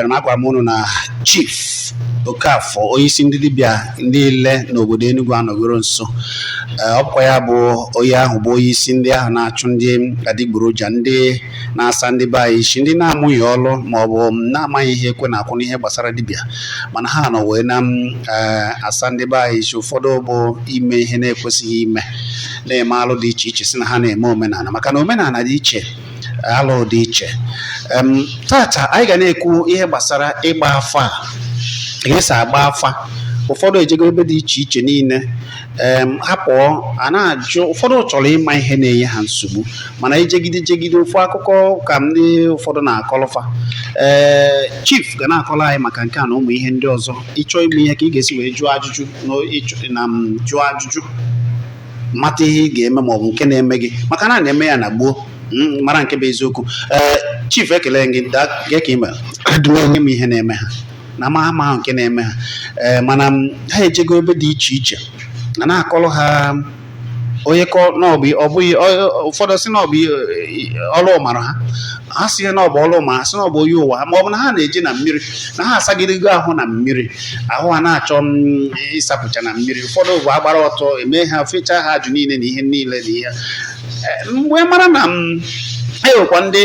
Ana m agwa m unu na chief Okafor onyeisi ndị dibịa niile n'obodo Enugu anọgoro nso Ee, ọ bụkwa ya bụ onye ahụ bụ onye isi ndị ahụ na-achụ ndị adịgboroja ndị na-asa ndị be anyị isi ndị na-amụghị ọrụ ma ọ bụ na-amaghị ihe ekwe na-akụ n'ihe gbasara dibịa mana ha nọ wee na- ee, asa ndị be anyị isi ụfọdụ bụ ime ihe na-ekwesịghị ime na-eme alụ dị iche iche sị na ha na-eme omenala maka na omenala dị iche alụ dị iche em tata anyị ga na-ekwu ihe gbasara ịgba afa ka esi agba afa ụfọdụ ejego ebe dị iche iche niile em ha pụọ a na-ajụ ụfọdụ chọrọ ịma ihe na-enye ha nsogbu mana ijegide jegide ofu akụkọ ka ndị ụfọdụ na-akọlụ fa ee chief ga na-akọrọ anyị maka nke a na ụmụ ihe ndị ọzọ ị chọọ ịma ihe ka ị ga-esi wee jụọ ajụjụ na ịchọ- na m jụọ ajụjụ mata ihe ị ga-eme ma ọ bụ nke na-eme gị maka na a na-eme ya na gboo mm, mara nke bụ eziokwu ee chief ekele m gị daa kee ka ị mere adịghị m ihe na-eme ha na ama- amahụ nke na-eme ha ee mana m, ha ejego ebe dị iche iche na na-akọrọ ha onye kọ na ọ bụ ọ bụghị ọ- ọ- ụfọdụ sị na ọ bụ ihe- ọrụ ọ mara ha ha sị na ọ bụ ọrụ ma ha sị na ọ bụ onye ụwa ma ọ bụ na ha na-eje na mmiri na ha asagidego ahụ na mmiri ahụ ha na-achọ mm, ịsapụcha na mmiri ụfọdụ bụ agbara ọtọ eme ha fechaa ha ajụ niile na ihe niile na ihe Eh, mgbe mara na enwekwa ndị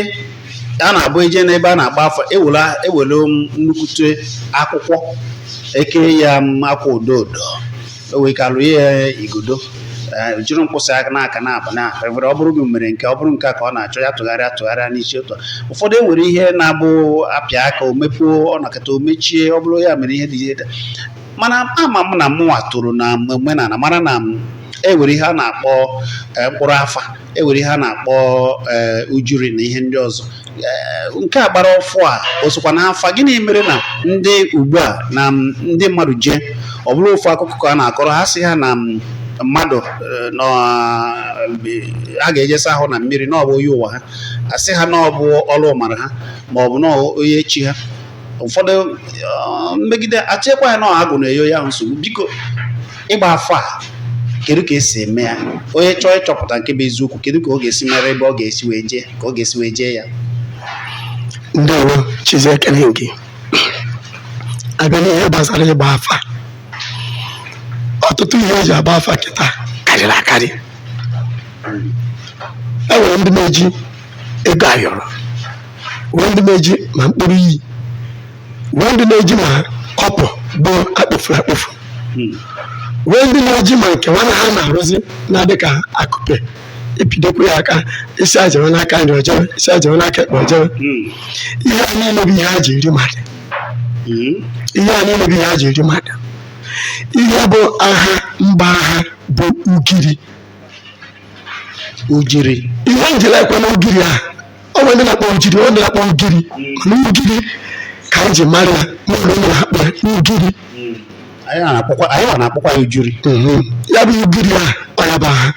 a na-abụ eje n'ebe a na-agba afa ewela ewele nnukwute akwụkwọ eke ya em akwa odo odo e wee kelụ ya igodo jiri mkpụsị aka n'aka naabọ na ewere ọ bụrụ gị mere nke ọ bụrụ nke a ka ọ na-achọ ya tụgharịa tụgharịa n'isi ụtọ ụfọdụ enwere ihe na-abụ apịa aka o mepuo ọ nakọta o mechie ọ bụrụ ya mere ihe dị ihe mana ama m na mụnwa toro na omenala mara na e nwere ihe a na-akpọ mkpụrụ afa e nwere ihe a na-akpọ ee eh, ujuri na ihe ndị ọzọ eh, nke a gbara ọfụụ a o sokwa n'afa gịnị mere na ndị ugbu a na ndị mmadụ jee ọ bụrụ ofu akụkọ ka a na-akọrọ ha sị ha na mmadụ eh, na a ga-eje asa ahụ na mmiri na ọ bụ onye ụwa ha asị ha na ọ bụ ọrụ mara ha ma ọ bụ na onye chi ha ụfọdụ eh, mmegide asịkwa ya na agwụ na-enye ya nsogbu biko ịgba afa a kedu ka esi eme ya onye chọọ ịchọpụta nke bụ eziokwu kedu ka ọ ga-esi mara ebe ọ ga-esi wee jee ka ọ ga-esi wee jee ya ndewo chizie ekele m gị abịa n'ihe gbasara ịgba afa ọtụtụ ihe eji agba afa kịta karịrị akarị e nwere ndị na-eji ego ayọrọ nwee ndị na-eji ma mkpụrụ iyi nwee ndị na-eji ma kọpụ bụ akpọfuru akpọfu nwee ndị na-eji ma nke nwana ha na-arụzi na-adị ka akụpe ị pịdokwa ya aka ị sị ya jewe n'aka nri o jewe ị sị ya jewe n'aka ekpe o jewe ihe a niile bụ ihe a ji eri mmadụ ihe a niile bụ ihe a ji eri mmadụ ihe bụ aha mba aha bụ ugiri ujiri ihe m jiri ekwu na ugiri a o nwere ndị na-akpọ ujiri ọ na-akpọ ugiri mana ugiri ka anyị ji mara ya n'ụlọ ụlọ akpọ ya ugiri anyị ma na-akpọkwa anyị ma na-akpọkwa ya ujiri ya bụ ugiri a ọ ya bụ aha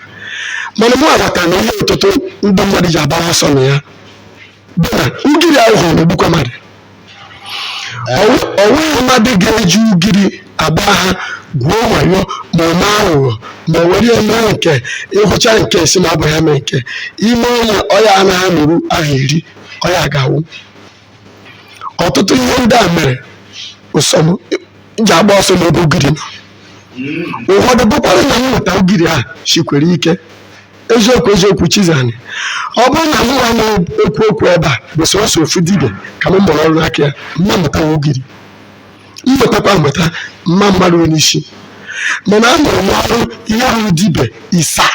mana mụ aghọta na ihe ọtụtụ ndị mmadụ ji agbara ọsọ na ya bụ na ugiri a ị hụrụ na-egbukwa mmadụ o nweghị mmadụ ga-eji ugiri agba aha gwuo wayo ma ọ mee aghụghọ ma o were eme nke ịhụcha nke sị na abụghị eme nke ime onye ọya anaghị amụrụ ahụ eri ọya ga-awụ ọtụtụ ihe ndị a mere ụsọm ji agba ọsọ n'ebe ugiri nọ ụfọdụ bụkwara na inweta ugiri a sikwara ike eziokwu eziokwu chizani ọ bụrụ na mụwa na-ekwu okwu ebe a bụ sọsọ ofu dibịa ka m mụrụ ọrụ n'aka ya m ma amụta ugiri m mụtakwa amụta m ma amaru ya n'isi mana amụrụ m ọrụ ihe ruru dibịa isaa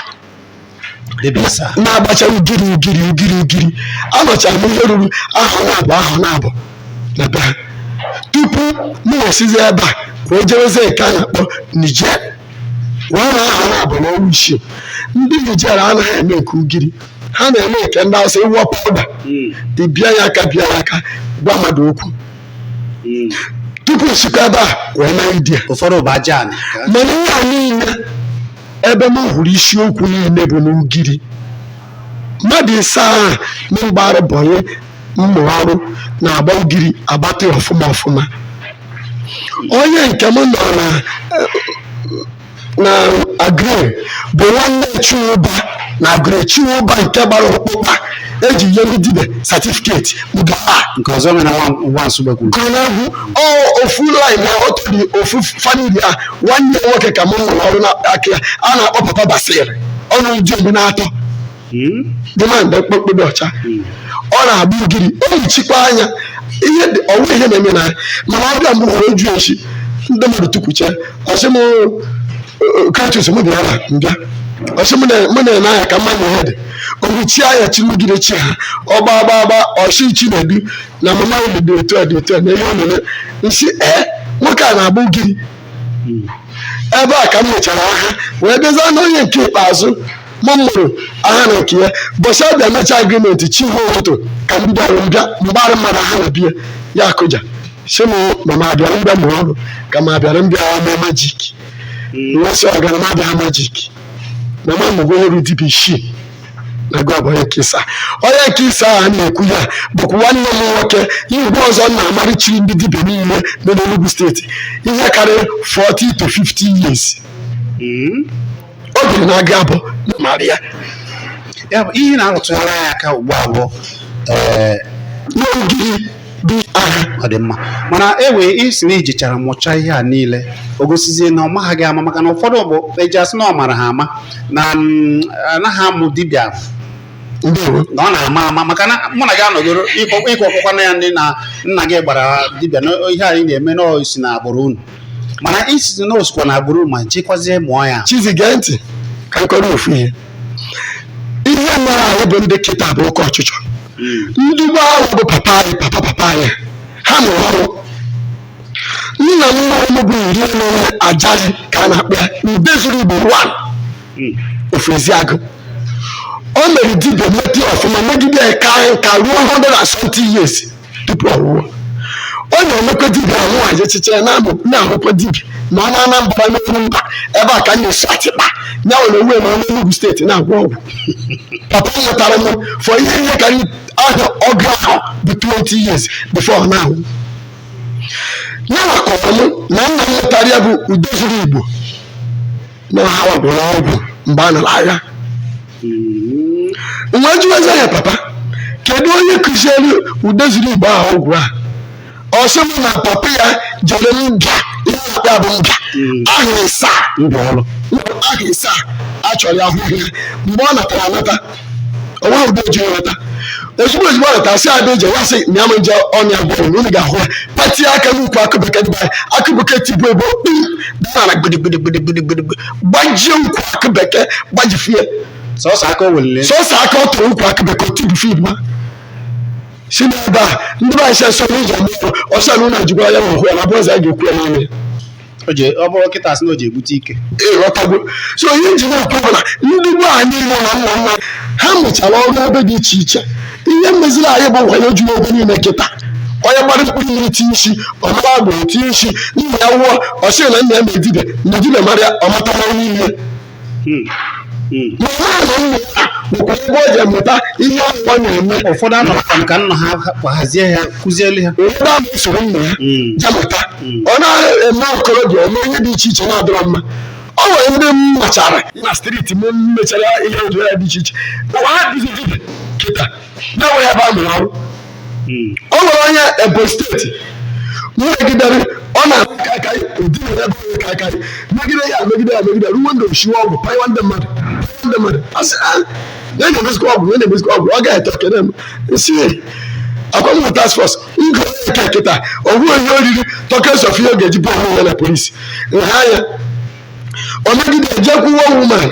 na-agbacha ugiri ugiri ugiri ugiri anọchara m ihe ruru ahọ naabọ ahọ naabọ na be ha tupu m wee sizi ebe a ka o jewezie nke a na-akpọ Niger wee nọọ ahọ naabọ na ọnwa isii ndị Niger anaghị eme nke ugiri ha na-eme nke ndị Hausa ịwọ powder ịbịa ya aka bịa ya aka gwa mmadụ okwu tupu m sikwa ebe a wee naa India ụfọdụ bụ aja anị mana ihe a niile ebe m hụrụ isiokwu niile bụ n'ugiri mmadụ isaa ahụ na m gbara boy mụọ ọrụ na-agba ugiri agba ọfụma ọfụma onye nke m nọ na na Aguleri bụ nwanne Chinwụba na Aguleri Chinwụba nke gbara ọkpụkpa e ji nye ndị dibia satifiketi mba nke ọzọ mere nwa nwa Nsugbe kwuru ka ọ na-abụ ọ ofu line na otu dị ofu famili a nwanne ya nwoke ka m mụrụ ọrụ n'aka ya a na-akpọ papa basir ọnụ ụdị mgbe na-atọ dị ma mgbe mkpụrụ dị ọcha ọ na-agba ugiri ehichikwa anya ihe dị- o nweghị ihe na-eme na ya mana ọ bịa mgbe ụfọdụ oju echi ndị mmadụ tukwuche ọ sị m kratus m bịara na mbịa ọ sị m na- mụ na-ene anya ka mma na ihe dị o ruchie anya chi nugide chi ha ọgba agba agba ọ sị Chinedu na mama ya dị otu a dị otu a na ihe ọ na-eme m sị ee nwoke a na-agba ugiri ebe a ka m mechara aha wee bịaza n'onye nke ikpeazụ m mụrụ aha na nke ya ụbọsị ọ bịa mecha agrimenti chi ha ụtụtụ ka m bịara mbịa m gbara mmadụ aha na be ya ọ kụja sị m na m abịara mbịa mụrụ ọrụ ka m abịara mbịa eme majik m wee sị ọgara m abịa majik na m amụgo ọrụ dibia isii na gịwa bụ nke ịsaa onye nke ịsaa ahụ a na-ekwu ya bụkwa nwanne m nwoke ihe ugbu ọzọ m na-amarịchiri ndị dibia niile nọ n'Enugu steeti ihe karịrị 40 to 50 years o jiri na-aga abụ na mara ya ya bụ ihe na-arụtụghara ya aka ugbu a bụ ee n'ogiri dị agha ọ dị mma mana e wee sị na i jechara mụchaa ihe a niile o gosizie na ọ maghị gị ama maka na ụfọdụ bụ eji asị na ọ mara ha ama na mm, anaghị amụ dibịa ndewo na ọ na-ama ama maka na mụ na gị anọgoro i kọọ ọkpụkwa na ya ndị nna nna gị gbara dibịa na ihe anyị na-eme na o si na agbụrụ unu mana i sịzi na o sikwa na agbụrụ ma jekwazie mụọ ya chizi gee ntị ka m kọọrọ ofu ihe ihe mere anyị bụ ndị kịta bụ oke ọchịchọ ndị gboo ahụ bụ papa anyị papa papa anyị ha mụrụ ọrụ nna nna m bụ iri na onye Ajali ka a na-akpọ ya Udezuru Igbo 1 of Eziagụ o mere dibia meti ọfụma megide ya kaa nka ruo 170 years tupu ọ nwụọ ọ na-emekwa dibịa ahụ anyị echiche ya na-amụ na-ahụkwa dibịa ma ọ nọ Anambra n'okwu mba ebe a ka m na-esi atịkpa ya nwere onwe ma ọ nọ Enugu steeti na-agwọ ọgwụ papa m mụtara m for ihe ihe ka ahọ ọgụ ahọ bụ 20 years before ọ na-anwụ ya nwa kọọrọ m na nna mụtara ya bụ Udezuru Igbo na ọ ha gwọrọ ọgwụ mgbe a nara agha m wee jụwazi ya papa kedu onye kụziere Udezuru Igbo ahụ ọgwụ a ọ sị m na papa ya jere mbịa ihe akpa bụ mbịa ahọ ịsaa mụọ ọrụ ahọ ịsaa a chọrọ ya ahụhọ ya mgbe ọ natara anata o nweghị ụdị eji nweta ozugbo ozugbo ọ natara sị ada eji ya sị mịa m nje ọnya bụrụ na unu ga-ahụ ya pati aka n'ukwu akụ bekee tie akụ bekee tibu ebo kpim daa na gbidi gbidi gbidi gbidi gbidi gbajie ukwu akụ bekee gbajifie sọsọ aka o welile sọsọ aka ọ tụrụ ukwu akụ bekee otu bifid ma si n'ebe a ndị be anyị si asọ n'ụzọ mmụọ ọsọ na ụlọ ejikwa ya ma hụ ya na bụ eze a ga-ekwu ya n'ọnụ ya o ji ọ bụrụ kịta sị na o ji ebute ike ịghọtagwo so ihe m ji na-akọ bụ na ndị gboo anyị nọ na nna nna ha mụchara ọrụ ebe dị iche iche ihe meziri anyị bụ wayo juru ebe niile kịta onye gbara mkpụrụ iri tinye isi ọ mara agbụrụ tinye isi nna ya nwụọ ọ sị na nna ya na-eme dibịa na dibịa mara ya ọ matara niile ụfọdụ anọkwa ka nna ha hazie ha kụzielu ha ọ na-eme okorobịa eme ihe dị iche iche na-adọrọ mma ọ nwere ndị m machara na steeti m mechara ihe otu ya dị iche iche ụwa ha dịzi dibịa kịta na-enweghị ebe a mụrụ ọrụ hmm. o nwere onye Ebonyi steeti megidere ọ na-ahụ kakarị ụdị na ebe onye kakarị megide ya megide ya megide ruo ndị o shiwe ọgwụ panyewa ndị mmadụ ndị mmadụ asị ah, na-emezikwa ọgwụ na-emezikwa ọgwụ ọ ga-eto kene m si akwa m task force Igwe onye ka kịta ọ bụghị onye oriri tokens of ihe ọ ga-eji bụ onwe ya na polisi nha ya o megide ejekwuwe woman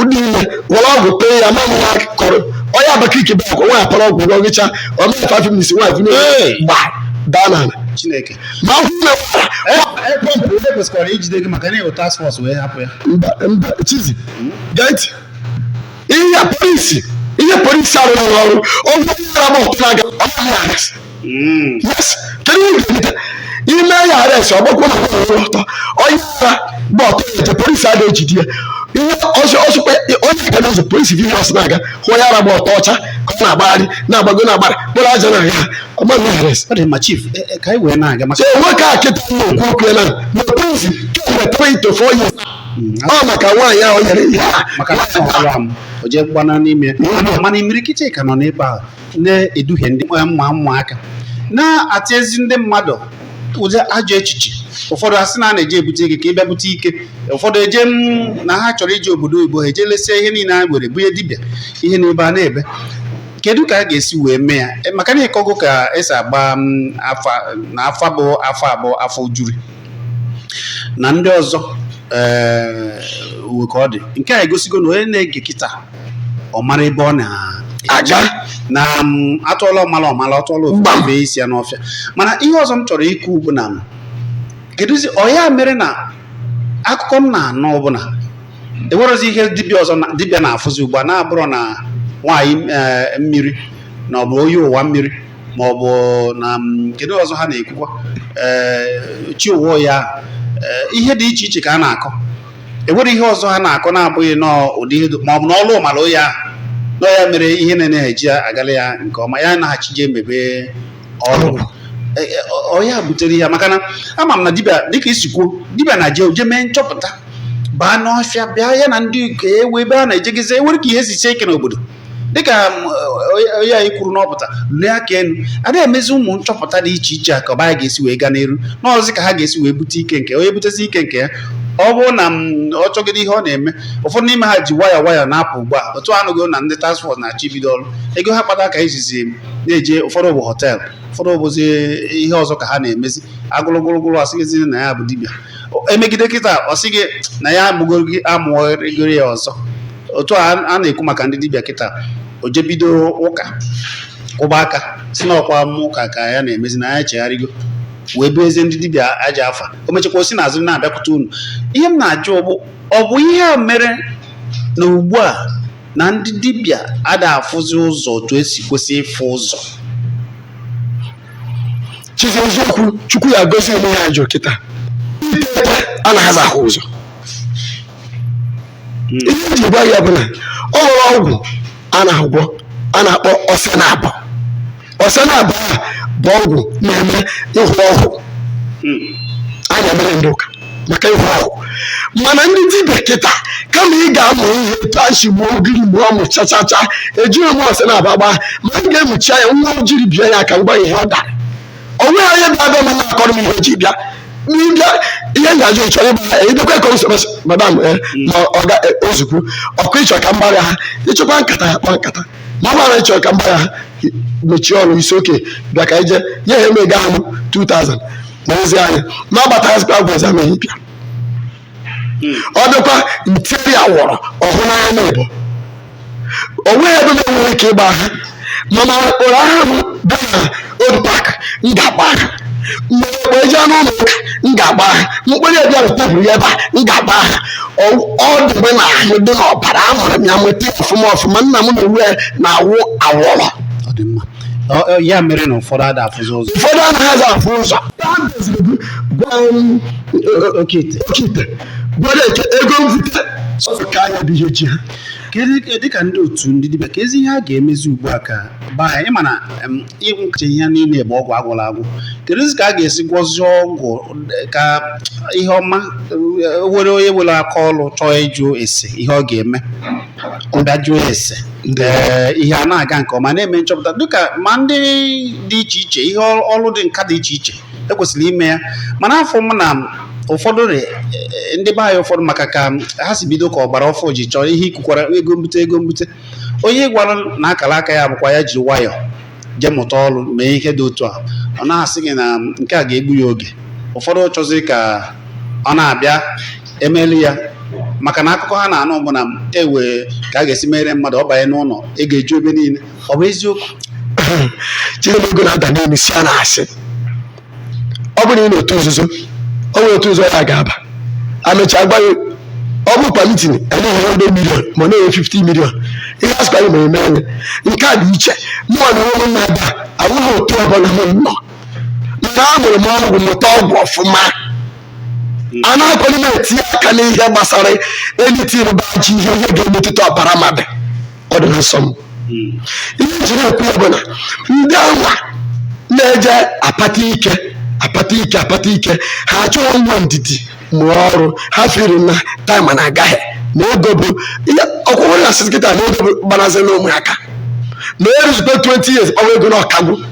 dị ime were ọgwụ tee ya ma nwa kọrọ onye Abakaliki bụ akwa nwaanyị para ọgwụ rọgịcha o mee five minutes nwaanyị vụnye Hey! gba daa n'ala Chineke. man ahụ na Ekpọmpụ onye kwesịkwara ijide gị maka na ị wụ task force wee hapụ ya. mba mba chizi gee ntị ihe polisi ihe polisi arụghị ọrụ ọgwụ yara m ọtụ na-aga ọ naghị arrest yes kedu ihe ga-emeta ime ya arrest ọ gbakwa na ọrụ ọtọ onye ara gba ọtọ eje polisi a na-ejide ya ihe ọsọ ọsọkwa onye ga n'ụzọ polisi bi ọsọ na-aga hụ onye ara gba ọtọ ọcha ka ọ na-agbagharị na-agbago na-agbada kpụrụ aja na ya ọ maghị arrest ọ dị mma chief e- e, ka anyị wee na-aga maka so nwoke a kịta na-ekwu okwu ya nọ na polisi kemgbe 3 to 4 years ọ maka nwaanyị ahụ nyere ihe a maka na ọ nwụrụ anwụ o jee gbana n'ime mana imirikiti ka nọ n'ebe ahụ na-eduhie ndị mma ụmụaka na-atịnyezi ndị mmadụ ụdị ajọ echiche ụfọdụ asị na a na-eje ebute ike ka ị bịa bute ike ụfọdụ eje na ha chọrọ ije obodo oyibo ha eje lesia ihe niile ha nwere bunye dibịa ihe n'ebe a na-ebe kedu ka a ga-esi wee mee ya maka na ị kọgo ka e si agba afa na afa bụ afọ abụọ afọ juri na ndị ọzọ ee uwe ka ọ dị nke a egosigo na onye na-ege kịta ọ mara ebe ọ na-aga na atụọla ọmala ọ mala atụọla ofeke o febe isi ya n'ọfịa mana ihe ọzọ m chọrọ ikwu bụ na kedụzi ọ ya mere na akụkọ m na-anụ ọbụla enwerozi ihe dibịa ọzọ na- dibịa na-afụzi ugbu a na-abụrọ na nwaanyị ee, mmiri na ọ bụ onye ụwa mmiri ma ọ bụ na kedu ọzọ ha na-ekwukwa ee chi ụwa ya ihe dị iche iche ka a na-akọ enwere ihe ọzọ ha na-akọ na-abụghị n'ụdị ihe ma ọ bụ na ọlụ mara ya na ọ ya mere ihe na-ejighi agala ya nke ọma ya naghachi je emebe ọrụ ọ ya butere ya maka na ama m na dibịa dịka i si kwuo dibịa na-eje o je mee nchọpụta baa n'ọfịa bịa ya na ndị nke enwe ebe a na-ejegizi enwere ka ihe si sie ike n'obodo dịka onye anyị kwuru na ọ pụta lee aka elu ada emezi ụmụ nchọpụta dị iche iche a ka ọba anyị ga-esi wee gaa n'iru na ọ zi ka ha ga-esi wee bute ike nke onye butezi ike nke ya ọ bụrụ na ọ chọgide ihe ọ na-eme ụfọdụ n'ime ha ji nwayọ nwayọ na-apụ ugbu a otu a nụgo na ndị task force na-achọ ibido ọrụ ego ha kpata ka e jizi na-eje ụfọdụ bụ họteelụ ụfọdụ bụzi ihe ọzọ ka ha na-emezi agụlụgụlụgụlụ asịghịzi na ya bụ dibịa emegide kịta ọ sị gị na ya amụgoro ya ọzọ otu a na-ekwu maka ndị dibịa kịta o jebido ụka kụba aka sị na ọkwa m ụka ka ya na-emezi na ya chegharịgo wee bazie ndị dibịa ajọ afa o mechakwa o si n'azụ na-abịakwute unu ihe m na-ajụ bụ ọ bụ ihe a mere na ugbu a na ndị dibịa ada afụzi ụzọ otu e si kwesị ịfụ ụzọ chizi eziokwu chukwu ya gozi eme ya njọ kịta iteta anazị ahụ ụzọ ihe m ji gwa ya bụ na o nwere ọgwụ a na-agwọ a na-akpọ ose naabọ ose naabọ a bụ ọgwụ na-eme ịhụ ọhụụ a na-emere ndị ụka maka ịhụ ọhụ mana ndị dibịa kịta kama ị ga-amụ ihe etu e si gbuo ugiri mgbe ọ mụchachaa ejighị m ose naabọ agba ma m ga-emuchi ya nwa m jiri bịa ya ka m gwa ya ihe ọ dara o nweghị onye bịa bịa mana akọrọ m ihe o ji bịa n'ịbịa ihe ngaji chọrọ ịgba ya ịbịakwa ka m sịrị madam eh, ma ọ ga eh, ozugbo ọkụ ị chọọ ka m gbara aha ị chọkwa nkata ya kpọọ nkata ma mara ị chọọ ka m gbara aha mechie ọnụ isi oke bịa ka ije nye ha emega ahụ 2000 n'ozi anyị ma agbataghịzikwa agwa ọzọ amaghị bịa ọ dịkwa ntiri awọrọ ọhụ n'anya na ịbụ o nweghị ebe na-enwere ike ịgba aha mana ụkpụrụ ahụ m bụ na old park m ga-agba aha kpọ m jee n'ụlọ ụka m ga-agba aha mkpụrụ ebia wetapụrụ ya ebe a m ga-agba aha ọ dị m n'ahụ dị n'ọbara amụrụ m ya nweta ya ọfụma ọfụma nna m na uwe na-awụ awọrọ ya mere na ụfọdụ ada afụzi ụzọ ụfọdụ anaghị afụ ụzọ okite gwara eke ego mbute ka anya dị ihe ji ha dịka ndị otu ndị dibịa kedụzi ihe a ga-emezi ugbu a ka baa anyị ma na ọgwụ kacha ihe niile bụ ọgwụ agwụla agwụ kedụzi ka a ga-esi gwọzie ọgwụ ka ihe ọma were onye nwere aka ọlụ chọọ ịjụ ese ihe ọ ga-eme ọ bịa jụọ ese ee ihe a na-aga nke ọma na-eme nchọpụta dịka ma ndị dị iche iche ihe ọlụ dị nka dị iche iche e kwesịrị ime ya mana afụ m na ụfọdụ rị eh, ndị be anyị ụfọdụ maka ka ha si bido ka ọgbara ọfụ ji chọrọ ihe e kwukwara ego mbute ego mbute onye ị gwara na akara aka ya bụkwa ya ji nwayọọ jee mụta ọrụ mee ihe dị otu a ọ na-asị gị na nke a ga-egbu ya oge ụfọdụ chọzi ka ọ na-abịa e melụ ya maka na akụkọ ha na-anụ bụ na e nwe ka a ga-esi mere mmadụ ọ banye n'ụlọ ego eju ebe niile ọ bụ eziokwu chee na ego na-ada n'elu si a na-asị ọ bụrụ na ị nọ n'otu nzuzo o nwere otu nzuzo ị ga-aba emechaa gwa gị ọ bụ per meeting enye gị hundred million ma ọ na-enye 50 million ihe a sịkwa gị mee i mee ya nke a dị iche mụnwa na onwe m na-aba enweghị otu ọbụla m nọ nke a mụrụ m ọgwụ mụta ọgwụ ọfụma anaghịkwanụ m etinye aka n'ihe gbasara anything bụ ajọ ihe ihe ga-emetụta ọbara mmadụ ọ dị na nsọ m ihe m jiri ekwu ya bụ na ndị anwa na-eje akpata ike akpata ike akpata ike ha achọghị inwe ndidi mụọ ọrụ ha feel na time na-aga na ego bụ ihe ọkwụrụ na a sịzị kịta na ego bụ gbanazị na ụmụaka na-eruzikwa 20 years ọwa ego na ọkagbu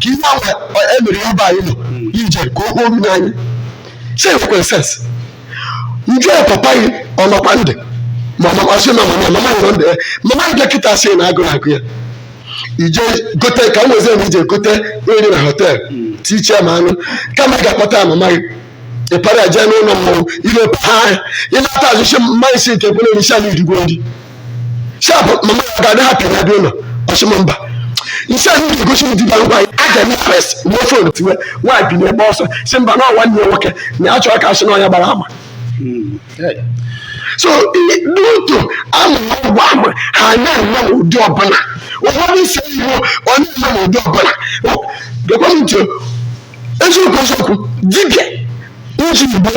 ka ihe ahụ e mere ya bụ anyị nọ ije ka o kpoo mmiri anyị si ekwere sense m jụọ ya papa gị ọ nọkwa ndụ ma makwasị na mama mama nọ ndụ ya mama gị dọkịta sị na agụrụ na-agụ ya i jee gote ka m wezi na i jee gote nri na hotel tiche ma anụ kama ị ga-akpọta mama gị ị para ya jee n'ụlọ mmọnwụ ile paa ya ị na-ata azụ chi mmanya si nke kwere n'isi ala irigbo nri sharp mama ya ga-adị hapụ ya bịa ụlọ ọ sị m mba m sị ahụ ga-egosi ndị dibịa ngwa a ga-eme press ruo phone tiwe nwaanyị bi n'ebe ọsọ sị mba na nwanne ya nwoke na ya chọrọ ka a sị na onye a gbara ama so n'otu a mụrụ ọgwụ ahụ ha na-eme ụdị ọbụla ụfọdụ isi iwu ọ na-eme ụdị ọbụla gekwa m ntị eziokwu eziokwu dibịa iji igbo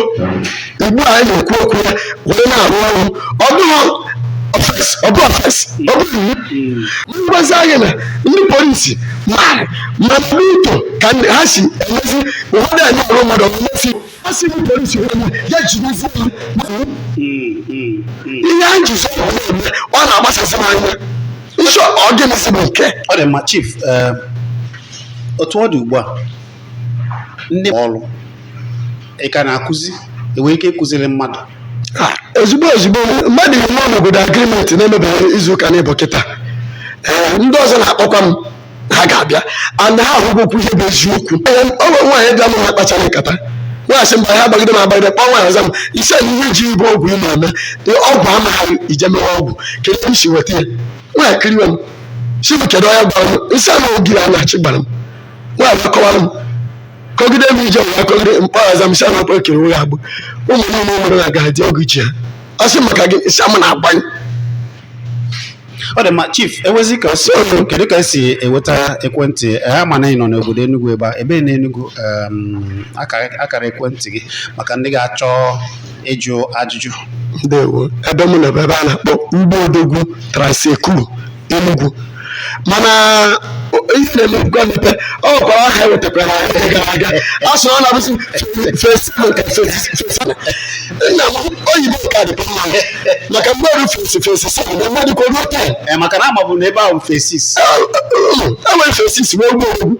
igbo a anyị na-ekwu okwu ya wee na-arụ ọrụ ọ bụghị offence ọ bụ offence ọ bụ iwu m gwazie anyị na ndị polisi mara mana etu ka ndị ha si emezi ụfọdụ anyị ọrụ mmadụ ọmụmesi ha si ndị polisi onye ya jidozi ya ma ọ bụ ihe anyị ji zọrọ ọrụ eme, ọ na-agbasasị m anya ị sị ọ gịnịzi bụ nke ọ dị mma chief eh, otu ọ dị ugbu a ụdị ọrụ ị ka na-akụzi ị nwere ike ịkụziri mmadụ Ah, ozugbo ozugbo mmadụ ihe nọ n'obodo agreement na-emebeghị izu ụka n'ịbụ kịta ee ndị ọzọ na-akpọkwa m ha ga-abịa and ha ahụgokwa ihe bụ eziokwu Ee, o nwere nwaanyị bịa m ha kpachara nkata nwaanyị sị mba ya agbagide m agbagide kpọọ nwaanyị ọzọ m ise na ihe ji ya bụ ọgwụ ị na-eme Ee, ọgwụ amaghị ije mewe ọgwụ kedu ebe m si weta ya nwaanyị kiriwe m si m kedu onye gwara m m sị ya ma ogiri a na-achị gbara m nwaanyị akọwara m kọgide m ije wee kọgide mkpọghaza m si ana akpa ekere ụgha agbụ ụmụ niile nwere na ga-adị ọgụ iche ha ọ sị maka gị si ama na-agbanye ọ dị mma chief ewezi ka si ọnụ kedu ka e si enweta ekwentị Eh, a ma na ị nọ n'obodo Enugu ebe a ebe na Enugu em, akara akara ekwentị gị maka ndị ga-achọ ịjụ ajụjụ ndewo ebe m nọ ebe a na-akpọ Ugbo Odogwu Trans-Ekulu Enugu mana ife na-eme ngwa mmepe ọ gwara aha ewetakwara ha ihe gara aga a sụrụ na abụsị fesbuk nna m oyibo ka dị mma maka mgbe ọrụ fesi fesi sara na mmadụ ka o ruo taa Ee, maka na amabu na ebe ahụ Phase Six e nwere Phase Six wee gbuo egbu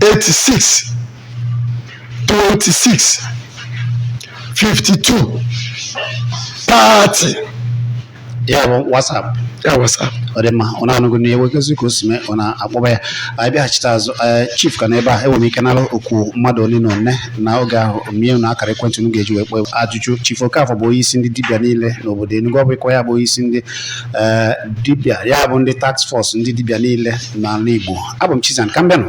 86 26 52 30 ya bụ WhatsApp ya WhatsApp ọ dị mma unu anụgo na e wee gesị ka o si mee unu akpọba ya anyị bịaghachite azụ eh, chief ka nọ ebe a enwere m ike nara okwu mmadụ ole na ole na oge ahụ m nye unu akara ekwentị unu ga-eji wee kpọọ ajụjụ chief Okafor bụ onye isi ndị dibịa niile n'obodo Enugu ọ bụkwa ya bụ onye isi ndị ee dibịa ya bụ ndị task force ndị dibịa niile n'ala Igbo abụ m Chizan ka m bịanụ